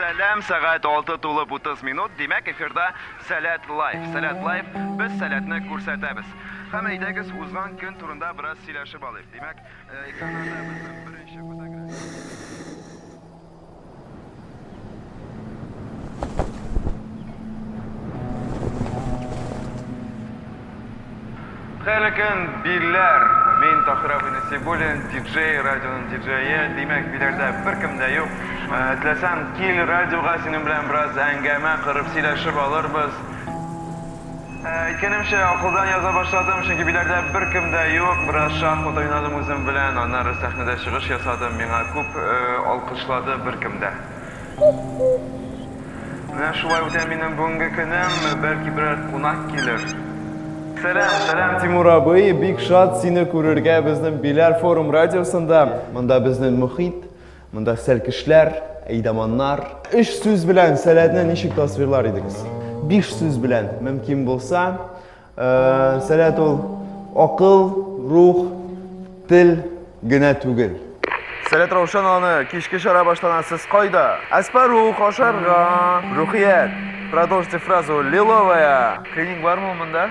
Сәләм, сәгать 6 тулып 30 минут. Димәк, эфирда Сәләт Лайф. Сәләт Лайф, без сәләтне күрсәтәбез. Һәм әйдәгез, узган көн турында бераз сөйләшеп алыйк. Димәк, экраннарда безнең беренче фотография. Хәерле көн, билләр! Мин Тахир абый Насибуллин, диджей, радионың диджее. Димәк, биләрдә беркем дә юк. Э, Теләсәң, кил радиога синең белән бераз әңгәмә корып сөйләшеп алырбыз. Икенемче акылдан яза башладым, чөнки биләрдә беркем дә юк. Бераз шахмат уйнадым үзем белән, аннары сәхнәдә чыгыш ясадым, миңа күп алкышлады беркем дә. Менә шулай үтә минем бүгенге көнем, бәлки берәр кунак килер. Сәлам, сәлам, Тимур абый, бик шат сине күрергә безнең Биләр форум радиосында. Монда безнең мохит. Монда сәлкешләр, әйдаманнар. Өч сүз белән сәләтне ничек тасвирлар идегез? Биш сүз белән, мөмкин булса. Э, сәләт ул акыл, рух, тел генә түгел. Сәләт Раушан аны кичке чара баштана сез кайда? Әспару, кошарга, рухият. Продолжите фразу. Лиловая. Клиник бармы монда?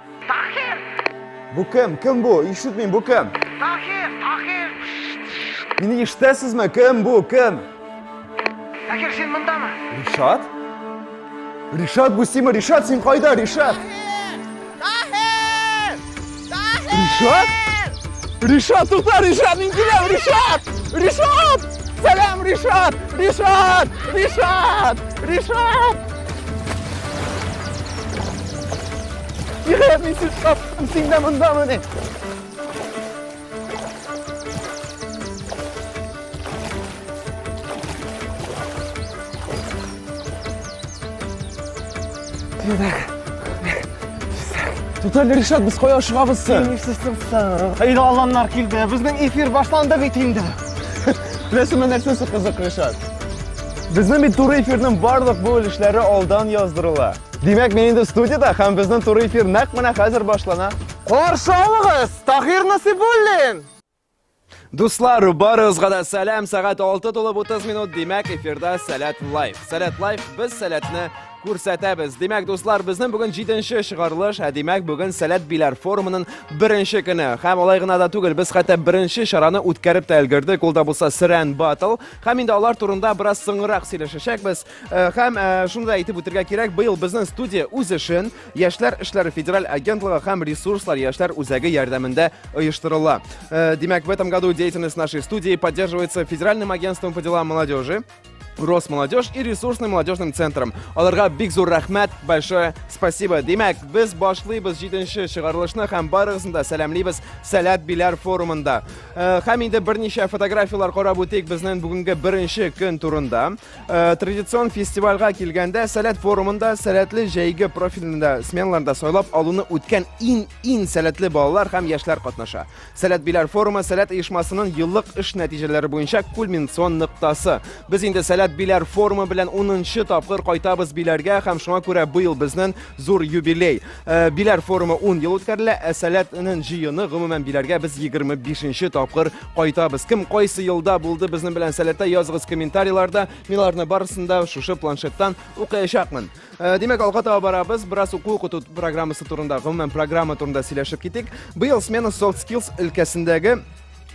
Таһир! Бу кем? Кем бу? Ишетмим, бу кем? Таһир, Таһир! Мине ишетәсезме? Кем бу? Кем? Таһир, син мондамы? Ришат? Ришат, бу симе? Ришат, син кайда, Ришат? Таһир! Таһир! Ришат? Ришат, тукта, Ришат, мин киләм, Ришат! Ришат! Сәлам, Ришат! Ришат! Ришат! Ришат! Йә, мин сүз таптым, син дә мондамы ни? Тотал Ришат, без кая ашыгабыз соң? Нисесең соң? Әйдә аланнар килде. Безнең эфир башланды бит инде. Беләсеңме нәрсәсе кызык, Ришат? Безнең бит туры эфирның барлык бу өлешләре алдан яздырыла. Димәк, мин инде студияда һәм безнең туры эфир нәкъ менә хәзер башлана. Каршы алыгыз, Таһир Насибуллин! Дуслар, барыгызга да сәлам. Сәгать 6 тулып 30 минут. Димәк, эфирда Сәләт лайф. Сәләт лайф без сәләтне күрсәтәбез. Димәк, дуслар, безнең бүген 7-нче чыгарылыш, ә димәк, бүген Сәләт биләр форумының беренче көне. Һәм алай гына да түгел, без хәтта беренче чараны үткәреп тә өлгердек. Ул да булса Срән батл. Һәм инде алар турында бераз соңрак сөйләшәчәкбез. Э, һәм э, шуны да әйтеп үтергә кирәк, быел безнең студия үз эшен Яшьләр эшләре федераль агентлыгы һәм ресурслар яшьләр үзәге ярдәмендә оештырыла. Э, димәк, в этом году деятельность нашей студии поддерживается Федеральным агентством по делам молодежи, Росмолодежь и ресурсным молодежным центром. Аларга бик зур рәхмәт, большое спасибо. Димәк, без башлыйбыз 7 нче чыгарылышны һәм барыгызны да сәламлибез Сәләт Биләр форумында. Э, һәм инде берничә фотографияләр карап үтик безнең бүгенге беренче көн турында. Э, традицион фестивальгә килгәндә сәләт форумында сәләтле җәйге профильле сменаларда сайлап алуны үткән иң иң сәләтле балалар һәм яшьләр катнаша. Сәләт биләр форумы сәләт оешмасының еллык эш нәтиҗәләре буенча кульминацион ноктасы. Без инде сәләт биләр форумы белән 10 нчы тапкыр кайтабыз биләргә һәм шуңа күрә быел безнең зур юбилей. Э, биләр форумы 10 ел үткәрелә, ә Сәләт энен җыены гомумән биләргә без 25-нче тапкыр кайтабыз. Кем кайсы елда булды безнең белән Сәләттә языгыз комментарийларда. Мин аларны барысын да шушы планшеттан укыячакмын. Э, димәк, алга таба барабыз. Бераз уку укыту программасы турында, гомумән программа турында сөйләшеп китик. Быел смена soft skills өлкәсендәге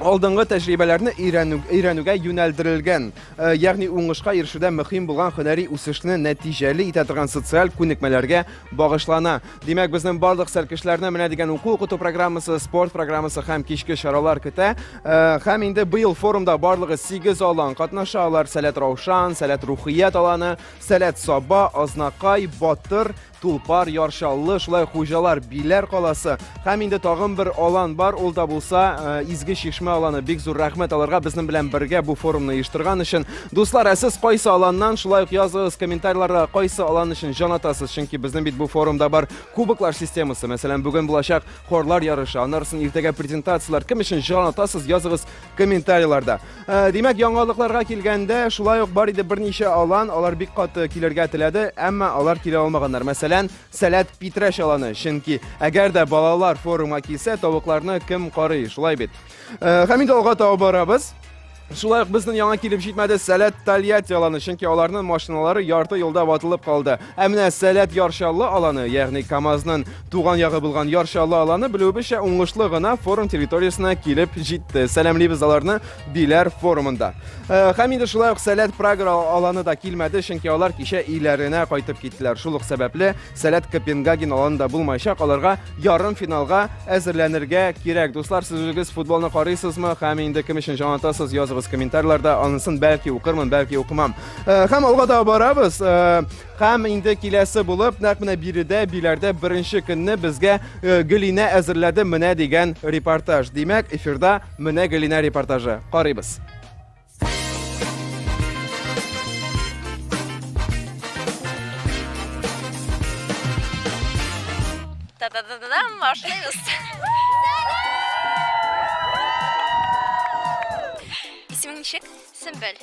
алдынгы тәҗрибәләрне өйрәнү, өйрәнүгә юнәлдерелгән, э, ягъни уңышка ирешүдә мөһим булган һөнәри үсешне нәтиҗәле итә торган социаль күнекмәләргә багышлана. Димәк, безнең барлык сәркешләрне менә дигән уку-укыту программасы, спорт программасы һәм кичке чаралар көтә. Э, һәм инде быел форумда барлыгы 8 алан катнаша. Алар Сәләт Раушан, Сәләт Рухият аланы, Сәләт Саба, Азнакай, Батыр, Тулпар, Яр Чаллы, шулай хуҗалар Биләр каласы һәм инде тагын бер алан бар, ул да булса э, Изге Чишмә аланы. Бик зур рәхмәт аларга безнең белән бергә бу форумны оештырган өчен. Дуслар, ә сез кайсы аланнан, шулай ук языгыз комментарийларда кайсы алан өчен җан атасыз, чөнки безнең бит бу форумда бар кубоклар системасы. Мәсәлән, бүген булачак хорлар ярышы, аннарысын иртәгә презентацияләр. Кем өчен җан атасыз, языгыз комментарийларда. Ә, димәк, яңалыкларга килгәндә, шулай ук бар иде берничә алан, алар бик каты килергә теләде, әмма алар килә алмаганнар. Мәсәлән, Сәләт Питрәш аланы, чөнки әгәр дә балалар форумга килсә, тавыкларны кем карый, шулай бит. Ә, һәм инде алга таба барабыз. Шулай ук безнең яңа килеп җитмәде Сәләт Тольятти аланы, чөнки аларның машиналары ярты юлда ватылып калды. Ә менә Сәләт Ярчаллы аланы, ягъни КАМАЗның Туган ягы булган Яр Чаллы аланы белүебезчә уңышлы гына форум территориясенә килеп җитте. Сәламлибез аларны Биләр форумында. Э, Һәм инде шулай ук Сәләт Прага аланы да килмәде, чөнки алар кичә өйләренә кайтып киттеләр. Шул ук сәбәпле Сәләт Копенгаген аланы да булмаячак, аларга ярым финалга әзерләнергә кирәк. Дуслар, сез үзегез футболны карыйсызмы? Һәм инде кем өчен җанатасыз? Языгыз комментарийларда, анысын бәлки укырмын, бәлки укымам. Э, Һәм алга таба барабыз. Э, Һәм инде киләсе булып, нәкъ менә биредә, Биләрдә беренче көнне безгә э, Гөлинә әзерләде менә дигән репортаж. Димәк, эфирда менә Гөлинә репортажы. Карыйбыз. Та-да-да-да-дам, башлыйбыз. Исемең ничек? Сөмбел.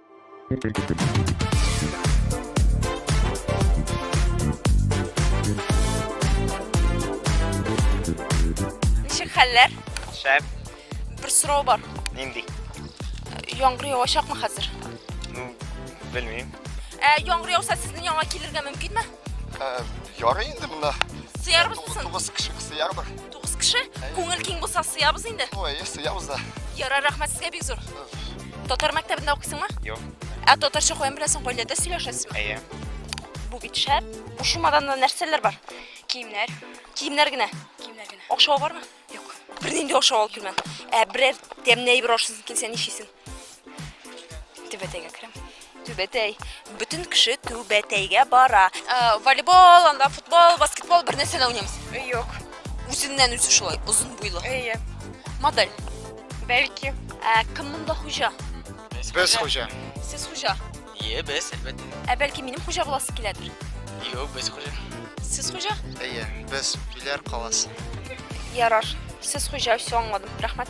Ничек хәлләр? Шәп. Бер сорау бар. Нинди? Яңгыр явачакмы хәзер? Ну, белмим. Ә яңгыр яуса сезнең яңа килергә мөмкинме? Ярый инде монда. Сыярбыз соң. Тугыз кеше сыярбыз. Тугыз кеше? Күңел киң булса сыябыз инде. Ой, сыябыз да. Ярар, рәхмәт сезгә бик зур. Татар мәктәбендә укыйсыңмы? Юк. Ә татарча каян беләсең, гаиләдә сөйләшәсезме? Әйе. Бу бит шәп. Бу чемоданда нәрсәләр бар? Киемнәр. Киемнәр генә. Киемнәр генә. Акча бармы? Юк. Бернинди акча алып килмә. Ә берәр тәмле әйбер ашыйсың килсә ничисең? Түбәтәйгә керәм. Түбәтәй. Бөтен кеше Түбәтәйгә бара. Ә, волейбол, анда футбол, баскетбол бер нәрсә дә уйнамыйсыз. Юк. Үзеннән үзе шулай, озын буйлы. Әйе. Модель. Бәлки. Ә, кем монда хуҗа? Без хуҗа. Сез хуҗа. Ие, без, әлбәттә. Ә бәлки минем хуҗа буласы киләдер? Юк, без хуҗа. Сез хуҗа? Әйе, без Биләр каласы. Ярар. Сез хуҗа, все аңладым. Рәхмәт.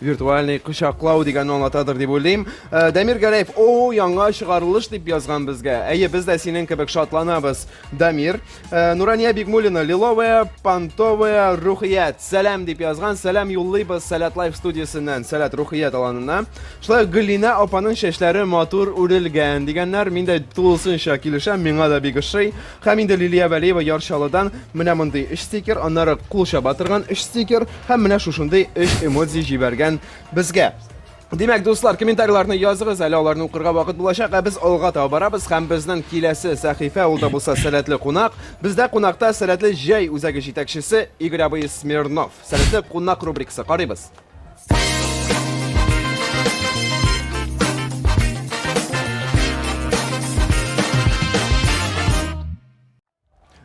Виртуальный кочаклау дигәнне аңлатадыр дип уйлыйм. Э, Дамир Гәрәев, о, яңа чыгарылыш дип язган безгә. Әйе, без дә синең кебек шатланабыз, Дамир. Э, Нурания Бигмулина, лиловая, понтовая, рухият. Сәлам дип язган, сәлам юллыйбыз Сәләт Лайф студиясеннән, Сәләт рухият аланына. Шулай Гөлина апаның чәчләре матур үрелгән дигәннәр, мин дә тулысынча килешәм, миңа да бик ошый. Һәм инде Лилия Вәлиева Ярчалыдан менә мондый өч стикер, аннары кулча батырган өч стикер, Һәм менә шушындый өч эмодзи җибәргән безгә. Димәк, дуслар, комментарийларны языгыз, әле аларны укырга вакыт булачак, ә без алга таба барабыз һәм безнең киләсе сәхифә ул да булса сәләтле кунак. Бездә кунакта сәләтле җәй үзәге җитәкчесе Игорь абый Смирнов. Сәләтле кунак рубрикасы карыйбыз.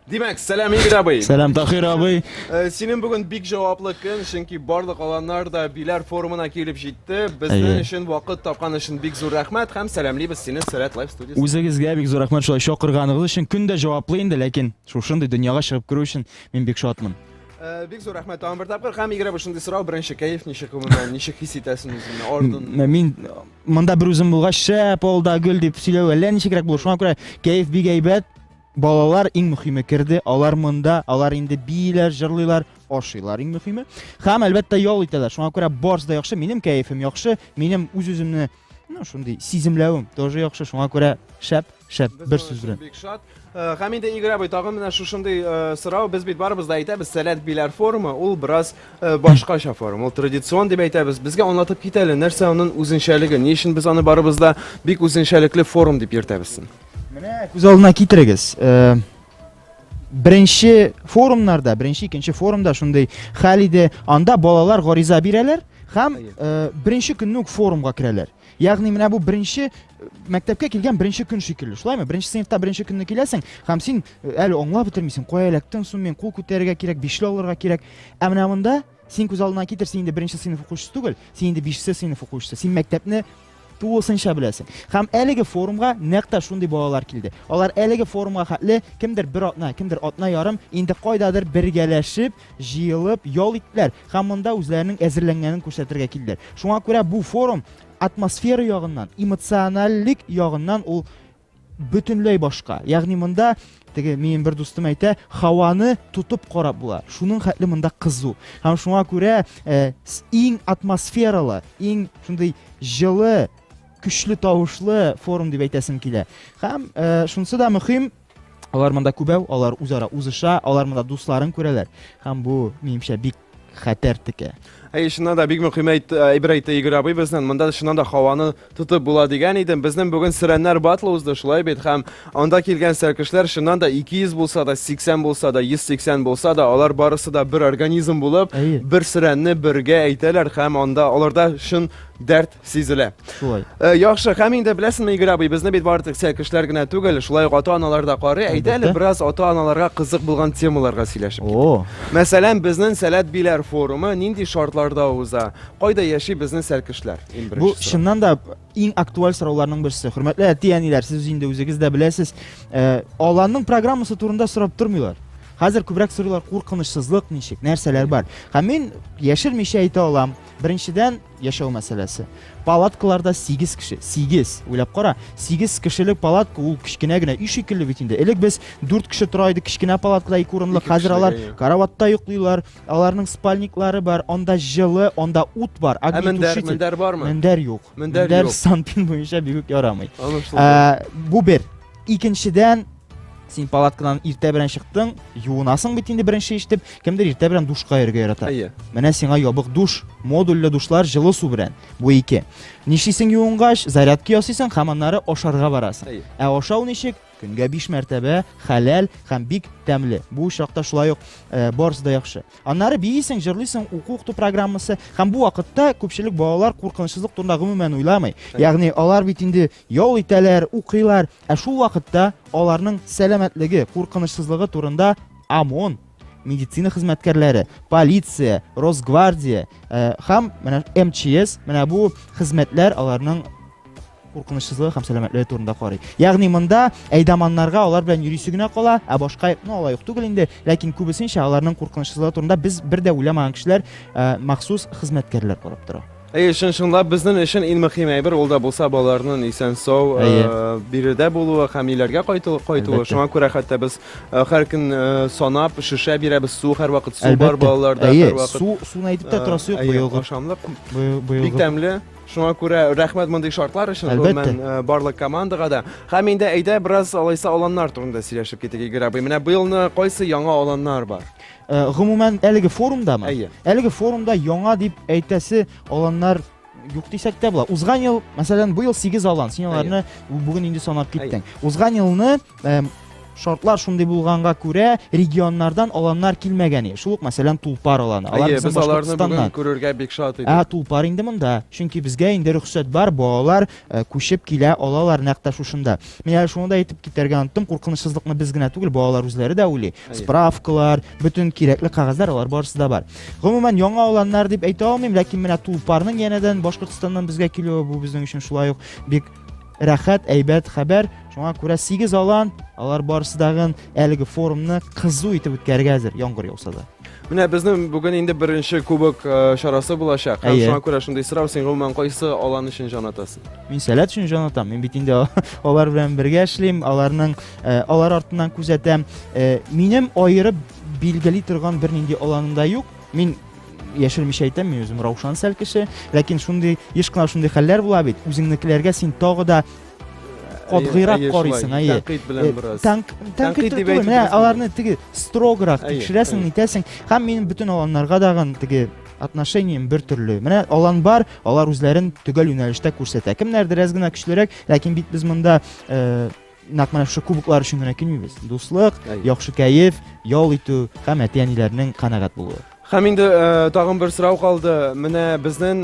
Димәк, сәлам Игорь абый. Сәлам Тахир абый. Э, синең бүген бик җаваплы көн, чөнки барлык аланнар да биләр форумына килеп җитте. Безнең Әйе. өчен вакыт тапкан өчен бик зур рәхмәт һәм сәламлибез сине Сәләт Лайф студиясендә. Үзегезгә бик зур рәхмәт шулай чакырганыгыз өчен. Көн дә җаваплы инде, ләкин шушындый дөньяга чыгып керү өчен мин бик шатмын. Э, бик зур рәхмәт тагын бер тапкыр. Һәм Игорь абый шундый сорау, беренче кәеф ничек гомумән, ничек хис итәсең үзеңне? Орден. М- Мин монда бер үзем булгач, шәп, алда гөл дип сөйләү әллә ничегрәк булыр. Шуңа күрә кәеф бик әйбәт. Балалар иң мөхиме керде, алар монда, алар инде бииләр, җырлыйлар, ашыйлар иң мөхиме. Хәм әлбәттә ял итәләр. Шуңа күрә барс да яхшы, минем кәефем яхшы, минем үз-үземне ну шундый сиземләвем тоже яхшы, шуңа күрә шәп, шәп бер сүз белән. Бик шат. Э, Хәм инде Игорь абый тагын менә шушындый э, сорау, без бит барыбыз да әйтәбез, сәләт биләр форумы, ул бераз э, башкача форум, ул традицион дип әйтәбез. Безгә аңлатып кит әле, нәрсә аның үзенчәлеге, ни өчен без аны барыбыз да бик үзенчәлекле форум дип йөртәбез? Менә күз алдына китерегез. Э, беренче форумнарда, беренче икенче форумда шундый хәл иде. Анда балалар гариза бирәләр һәм э, беренче көнне үк форумга керәләр. Ягъни менә бу беренче э, мәктәпкә килгән беренче көн шикелле. Шулаймы? Беренче сыйныфта беренче көнне киләсең һәм син әле аңлап бетермисең, кая эләктең, сум мин кул күтәрергә кирәк, бишле алырга кирәк. Ә менә монда Син күз алдына китер, син инде беренче сыйныф укучысы түгел, син инде бишенче сыйныф укучысы. Син мәктәпне тулысынча беләсең. Һәм әлеге форумга нәкъ та шундый балалар килде. Алар әлеге форумга хәтле кемдер бер атна, кемдер атна ярым инде кайдадыр бергәләшеп, җыелып ял иттеләр һәм монда үзләренең әзерләнгәнен күрсәтергә килделәр. Шуңа күрә бу форум атмосфера ягыннан, эмоциональлек ягыннан ул бөтенләй башка. Ягъни монда теге минем бер дустым әйтә, һаваны тотып карап була. Шуның хәтле монда кызу. Һәм шуңа күрә э, иң атмосфералы, иң шундый җылы, көчле тавышлы форум дип әйтәсем килә. Һәм э, шунысы да мөһим, алар монда күбәү, алар үзара узыша, алар монда дусларын күрәләр. Һәм бу, минемчә, бик хәтәр текә. Әй, чыннан да бик мөһим әйт, әйбер әйтте Игорь абый безнең. Монда чыннан да һаваны тотып була дигән идем. Безнең бүген Сөрәннәр батлы узды, шулай бит? Һәм анда килгән сәркешләр чыннан да 200 булса да, 80 булса да, 180 булса да, алар барысы да бер организм булып, бер сөрәнне бергә әйтәләр һәм анда аларда чын дәрт сизелә. Шулай. Э, яхшы, һәм инде беләсеңме, Игорь абый, безне бит бары тик кешеләр генә түгел, шулай ук ата-аналар да карый. Әйдә әле бераз ата-аналарга кызык булган темаларга сөйләшеп. О. Мәсәлән, безнең Сәләт биләр форумы нинди шартларда уза? Кайда яши безнең сәлкешләр? Бу чыннан да иң актуаль сорауларның берсе. Хөрмәтле әти-әниләр, сез инде үзегез дә беләсез, э, аланның программасы турында сорап тормыйлар. Хәзер күбрәк сорыйлар куркынычсызлык ничек, нәрсәләр бар. Һәм мин яшермичә әйтә алам. Беренчедән, яшәү мәсьәләсе. Палаткаларда 8 кеше, 8, уйлап кара, 8 кешелек палатка ул кечкенә генә өй шикелле бит инде. Элек без 4 кеше тора идек кечкенә палаткада ике урынлы, хәзер алар караватта йоклыйлар, аларның спальниклары бар, анда җылы, анда ут бар. Ә мендәр, мендәр бармы? Мендәр юк. Мендәр, мендәр санпин буенча бигүк ярамый. Ә, бу бер. Икенчедән, Син палаткадан иртә белән чыктың, юынасың бит инде беренче ишетеп, кемдер иртә белән душка йөрергә ярата. Әйе. Менә сиңа ябык душ, модульле душлар җылы су белән. Бу ике. Нишлисең юынгач, зарядка ясыйсың һәм аннары ашарга барасың. Әйе. Ә ашау ничек? Көнгә 5 мәртәбә, хәләл һәм бик тәмле. Бу очракта шулай ук э, барысы да яхшы. Аннары биисең, җырлыйсың, уку укыту программасы һәм бу вакытта күпчелек балалар куркынычсызлык турында гомумән уйламый. Ягъни алар бит инде ял итәләр, укыйлар, Ә шул вакытта аларның сәламәтлеге куркынычсызлыгы турында ОМОН, медицина хезмәткәрләре, полиция, Росгвардия э, һәм менә МЧС, менә бу хезмәтләр аларның куркынычсызлыгы һәм сәламәтлеге турында карый. Ягъни монда әйдаманнарга алар белән йөрисе генә кала, ә башка ну алай ук түгел инде, ләкин күбесенчә аларның куркынычсызлыгы турында без бер дә уйламаган кешеләр э, махсус хезмәткәрләр карап тора. Әйе, чын чынлап безнең өчен иң мөһим әйбер ул да булса балаларның исән сау э, биредә булуы һәм өйләргә кайту, кайтуы. Шуңа күрә хәтта без э, һәр көн э, санап шешә бирәбез, су һәрвакыт су бар балаларда Әйе, һәрвакыт. су, суны әйтеп тә торасы юк быелгы. Ашамлык бик тәмле. Шуңа күрә рәхмәт мондый шартлар өчен Әлбәттә. Э, барлык командага да. Һәм инде әйдә бераз алайса аланнар турында сөйләшеп китик, Игорь абый. Менә быелны кайсы яңа аланнар бар? Э, гомумән әлеге форумдамы әйе әлеге форумда яңа дип әйтәсе аланнар юк дисәк тә була узган ел мәсәлән быел сигез алан син аларны бүген инде санап киттең узган елны э, шартлар шундый булганга күрә регионнардан аланнар килмәгән шул ук мәсәлән тулпар аланы алар без аларны бүген күрергә бик шат идек ә тулпар инде монда чөнки безгә инде рөхсәт бар балалар Э, күчеп килә алалар нәкъ тә шушында мин әле шуны да әйтеп китәргә оныттым куркынычсызлыкны без генә түгел балалар үзләре дә уйлый справкалар бөтен кирәкле кәгазьләр алар барысы да бар гомумән яңа аланнар дип әйтә алмыйм ләкин менә тулпарның янәдән башкортстаннан безгә килүе бу безнең өчен шулай ук бик рәхәт әйбәт хәбәр шуңа күрә сигез алан алар барысы дагын әлеге форумны кызу итеп үткәрергә әзер яңгыр яуса да Менә безнең бүген инде беренче кубок э, чарасы булачак. Һәм Әйе. шуңа күрә шундый сорау, син гомумән кайсы алан өчен җан атасың? Мин сәләт өчен җан атам. Мин бит инде алар белән бергә эшлим, аларның э, алар артыннан күзәтәм. Э, минем аерып билгели торган бернинди аланым да юк. Мин яшермичә әйтәм, мин үзем раушан сәл кеше, ләкин шундый еш кына шундый хәлләр була бит. Үзеңнекеләргә син тагы да катгыйрак Әйе, шулай, карыйсың, әйе. тәнкыйть белән Э, бераз. тәнк- Тәнкыйть Тәнкыйть дип түгел, әйтеп менә дөрес аларны теге строграк Әйе, тикшерәсең, әйе. нитәсең. Һәм минем бөтен аланнарга дагын теге отношением бер төрле. Менә алан бар, алар үзләрен төгәл юнәлештә күрсәтә. Кемнәр дерәс генә көчлерәк, ләкин бит без монда э, нәкъ менә шушы кубоклар өчен генә килмибез. Дуслык, Әйе. яхшы кәеф, ял итү һәм әти-әниләрнең канәгать булуы. Һәм инде тагын бер сорау калды. Менә безнен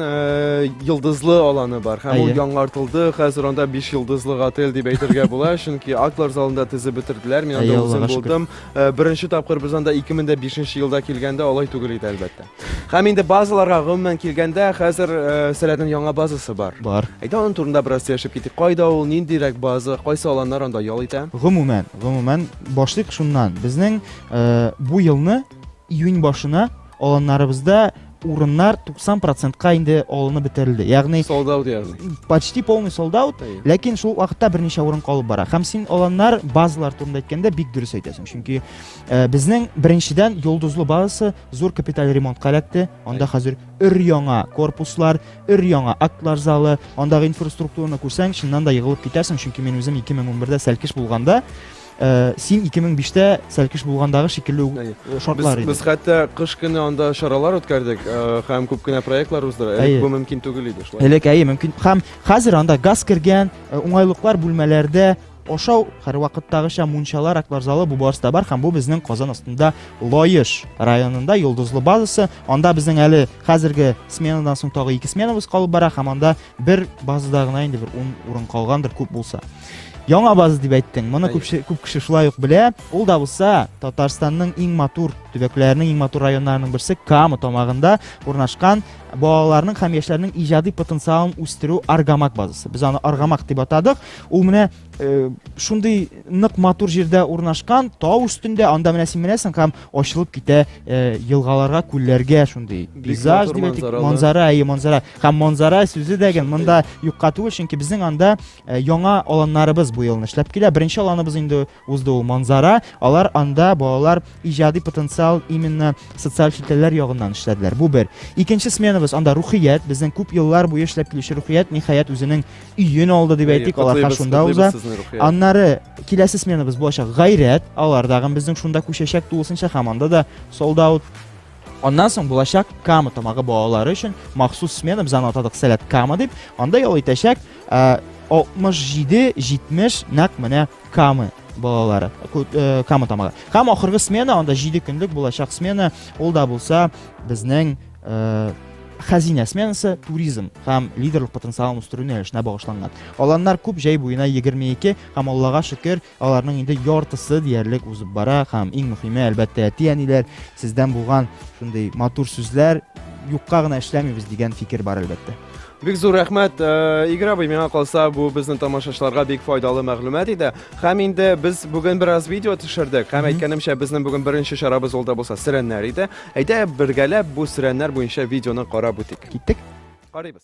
йылдызлы аланы бар. Һәм ул яңартылды. Хәзер анда 5 йылдызлы отель дип әйтергә була, чөнки актлар залында тезеп бетерделәр. Мин анда үзем булдым. Беренче тапкыр без анда 2005 елда килгәндә алай түгел иде, әлбәттә. Һәм инде базаларга гомумән килгәндә, хәзер Сәләтнең яңа базасы бар. Бар. Әйдә аның турында бераз сөйләшеп китик. Кайда ул, ниндирәк база, кайсы аланнар анда ял итә? Гомумән, гомумән башлыйк шуннан. Безнең бу елны Июнь башына аланнарыбызда урыннар 90 процентка инде алынып бетерелде. Ягъни sold out ягъни. Почти полный sold out, ләкин шул вакытта берничә урын калып бара. Һәм син аланнар базалар турында әйткәндә бик дөрес әйтәсең, чөнки э, безнең беренчедән Йолдызлы базасы зур капиталь ремонтка эләкте. Анда хәзер өр-яңа корпуслар, өр-яңа актлар залы, андагы инфраструктураны күрсәң, чыннан да егылып китәсең, чөнки мин үзем 2011-дә сәлкеш булганда Э, син 2005 тә сәлкеш булгандагы шикелле үк э, шартлар иде. Без хәтта кыш көне анда чаралар үткәрдек э, һәм күп кенә проектлар уздыра. Элек бу мөмкин түгел иде шулай. Элек әйе мөмкин. Һәм хәзер анда газ кергән, уңайлыклар бүлмәләрдә ашау һәрвакыттагыча мунчалар аклар залы бу барыста бар һәм бу безнең казан астында лаеш районында йолдызлы базасы анда безнең әле хәзерге сменадан соң тагы ике сменабыз калып бара һәм анда бер базада гына инде бер ун урын калгандыр күп булса Яңа база дип әйттең. Моны күп күп кеше шулай ук белә. Ул да булса Татарстанның иң матур төбәкләренең иң матур районнарының берсе Кама тамагында урнашкан балаларның һәм яшьләрнең иҗади потенциалын үстерү Аргамак базасы. Без аны Аргамак дип атадык. Ул менә э, шундый нык матур җирдә урнашкан, тау өстендә, анда менә син менәсең һәм ачылып китә э, елгаларга, күлләргә шундый. Пейзаж дип әйтик, манзара, әйе, манзара. Һәм манзара сүзе дә гел монда юкка түгел, чөнки безнең анда Э, яңа аланнарыбыз бу елны эшләп килә. Беренче аланыбыз инде узды ул Манзара. Алар анда балалар иҗади потенциал именно социаль челтәрләр ягыннан эшләделәр. Бу бер. Икенче сменабыз анда рухият, безнең күп еллар буе эшләп килүче рухият ниһаять үзенең өен алды дип әйтик, аларга шунда уза. Аннары киләсе сменабыз булачак гайрәт, алар тагын безнең шунда күчәчәк тулысынча һәм анда да солдат Аннан соң булачак Кама тамагы балалары өчен махсус смена без аны атадык Сәләт Кама дип. Анда ял итәчәк 67-70 нәкъ менә Камы балалары э, Кама тамагы. Һәм ахыргы смена анда 7 көнлек булачак смена, ул да булса безнең э, хәзинә сменасы туризм һәм лидерлык потенциалын үстерү юнәлешенә багышланган. Аланнар күп, җәй буена 22 һәм Аллага шөкер, Аларның инде яртысы диярлек узып бара һәм иң мөхиме, әлбәттә, әти-әниләр сездән булган шундый матур сүзләр, юкка гына эшләмибез дигән фикер бар, әлбәттә. Бик зур рәхмәт, э, Игорь абый, миңа калса, бу безнең тамашачыларга бик файдалы мәгълүмат иде. Һәм инде без бүген бераз видео төшердек. Һәм әйткәнемчә, безнең бүген беренче чарабыз ул да булса сөрәннәр иде. Әйдә, бергәләп бу сөрәннәр буенча видеоны карап үтик. Киттек. Карыйбыз.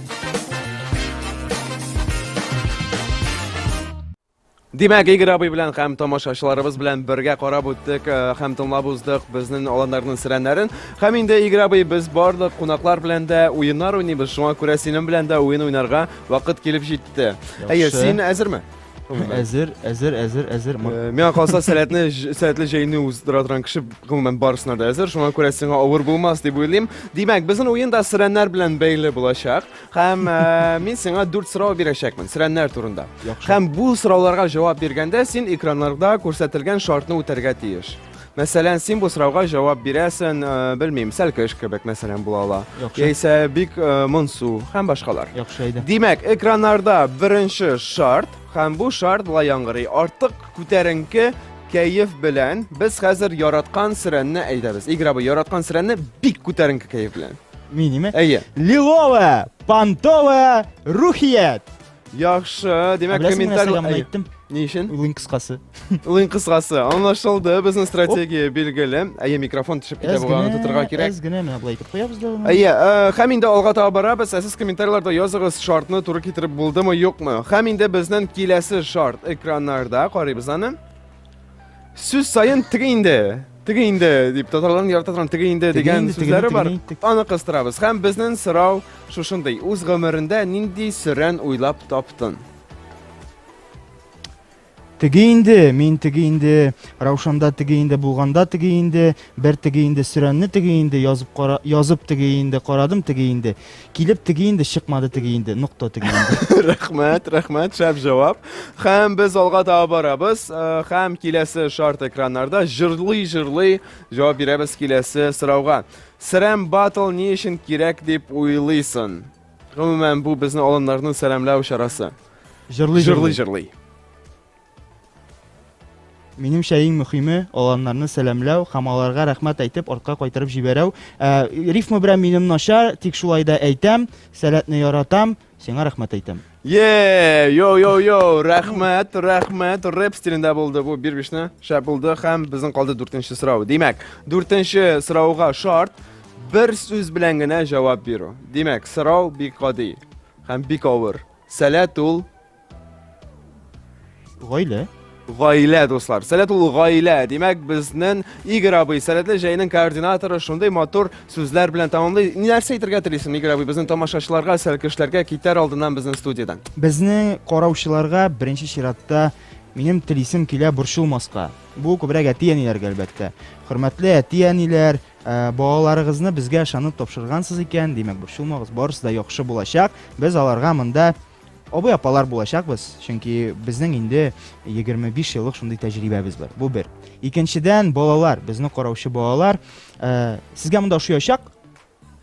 Димәк, Игорь абый белән һәм тамашачыларыбыз белән бергә карап үттек э, һәм тыңлап уздык безнең аланнарның сирәннәрен. Һәм инде Игорь абый без барлык кунаклар белән дә уеннар уйныйбыз. Шуңа күрә синең белән дә уен уйнарга вакыт килеп җитте. Әйе, син әзерме? Әзер, әзер, әзер, әзер. Э, миңа калса, сәләтне, сәләтле җәйне уздыра торган кеше гомумән барысына да әзер. Шуңа күрә сиңа авыр булмас дип уйлыйм. Димәк, безнең уен да сирәннәр белән бәйле булачак. Һәм э, мин сиңа дүрт сорау бирәчәкмен сирәннәр турында. Һәм бу сорауларга җавап биргәндә син экраннарда күрсәтелгән шартны үтәргә тиеш. Мәсәлән, син бу сорауга җавап бирәсен, э, белмим, сәлкеш кебек, мәсәлән, була ала. Яхшы. Яисә бик э, монсу һәм башкалар. Яхшы әйдә. Димәк, экраннарда беренче шарт, һәм бу шарт була яңгырый. Артык күтәренке кәеф белән без хәзер яраткан сөрәнне әйдәбез. Игра бу яраткан сөрәнне бик күтәренке кәеф белән. Минеме? Әйе. Лиловая, понтовая, рухият. Яхшы, димәк, Беләсең, менә комментарий... сәламны әйттем. Ни өчен? Уен кыскасы. Уен кыскасы. Анлашылды, безнең стратегия билгеле. Әйе, микрофон төшеп китә бугай, аны тотырга кирәк. Әз генә менә булай итеп куябыз да. Әйе, э, хәм инде алга таба барабыз. Ә сез комментарийларда языгыз, шартны туры китереп булдымы, юкмы? Хәм инде безнең киләсе шарт экраннарда карыйбыз аны. сүз сайын тиге инде тиге инде дип татарларның ярата торган тиге инде дигән сүзләре бар аны кыстырабыз һәм безнең сорау шушындый үз гомерендә нинди сөрән уйлап таптын теге инде мин теге инде раушанда теге инде булганда теге инде бер теге инде сөрәнне теге инде язып кара язып теге инде карадым теге инде Килеп теге инде, чыкмады теге инде, нокта теге инде. Рәхмәт, рәхмәт, шәп җавап. Хәм без алга таба барабыз. Э, хәм киләсе шарт экраннарда җырлый-җырлый җавап бирәбез киләсе сорауга. Сәрәм батл ни өчен кирәк дип уйлыйсын? Гомумән, бу безне алыннарны сәламләү чарасы. Җырлый-җырлый. Җырлый-җырлый. Минемчә иң мөхиме аланнарны сәламләү һәм аларга рәхмәт әйтеп артка кайтарып җибәрәү. Ә, рифма белән минем начар, тик шулай да әйтәм, сәләтне яратам, сиңа рәхмәт әйтәм. Е, йо йо йо, рәхмәт, рәхмәт. Рэп стилендә булды бу бир бишне. Шәп булды һәм безнең калды дүртенче сорау. Димәк, дүртенче сорауга шарт бер сүз белән генә җавап бирү. Димәк, сорау бик гади һәм бик авыр. Сәләт ул Гаилә. Гаилә, дуслар. Сәләт ул гаилә. Димәк, безнен Игорь абый, сәләтле җәйнең координаторы, шундый матур сүзләр белән тәмамлый. Нәрсә әйтергә телисең, Игорь абый, безнен тамашачыларга, сәлкешләргә китәр алдыннан безнен студиядән? Безнең караучыларга беренче чиратта минем телисем килә борчылмаска. Бу күбрәк әти-әниләргә, әлбәттә. Хөрмәтле әти-әниләр, Э, балаларыгызны безгә ышанып тапшыргансыз икән, димәк, борчылмагыз, барысы да яхшы булачак. Без аларга монда Абый апалар булачакбыз, чөнки безнең инде 25 еллык шундый тәҗрибәбез бар. Бу бер. Икенчедән, балалар, безне караучы балалар, э, сезгә монда ошыячак,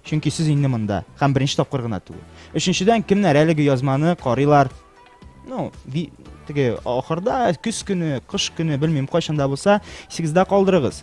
чөнки сез инде монда һәм беренче тапкыр гына түгел. Өченчедән, кемнәр әлеге язманы карыйлар? Ну, би, теге ахырда, көз көне, кыш көне, белмим, кайчанда булса, исегездә калдырыгыз.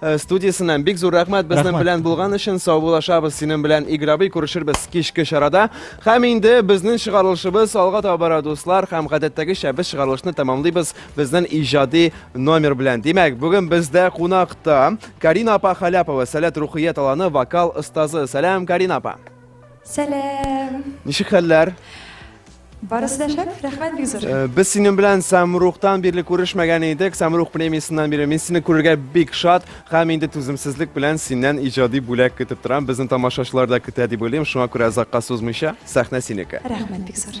Э, студиясеннән. Бик зур рәхмәт безнең белән булган өчен. Саубуллашабыз синең белән Игорь абый күрешербез кичке чарада. Һәм инде безнең чыгарылышыбыз алга таба бара дуслар һәм гадәттәгечә без чыгарылышны тәмамлыйбыз безнең иҗади номер белән. Димәк, бүген бездә кунакта Карина апа Халяпова, Сәләт рухия таланы вокал остазы. Сәлам, Карина апа. Сәлам. Ничек хәлләр? Барысы да шәп, рәхмәт бик зур. Без синең белән Самрухтан бирле күрешмәгән идек. Самрух премиясеннән бирле мин сине күрергә бик шат һәм инде түземсезлек белән синнән иҗади бүләк көтеп торам. Безнең тамашачылар да көтә дип уйлыйм. Шуңа күрә озакка сузмыйча, сәхнә синеке. Рәхмәт бик зур.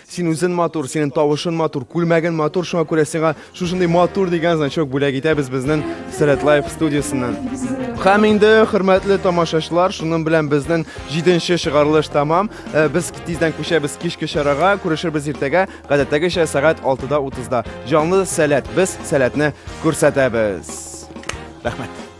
Син үзен матур, синең тавышын матур, күлмәген матур, шуңа күрә сиңа шушындый матур дигән значок бүләк итәбез безнең Сәләт Лайф студиясеннән. Һәм инде, хөрмәтле тамашачылар, шуның белән безнең җиденче чыгарылыш тәмам. Э, без тиздән күчәбез кичке чарага, күрешербез иртәгә, гадәттәгечә сәгать 6-да 30-да. Җанлы сәләт, без сәләтне күрсәтәбез. Рәхмәт.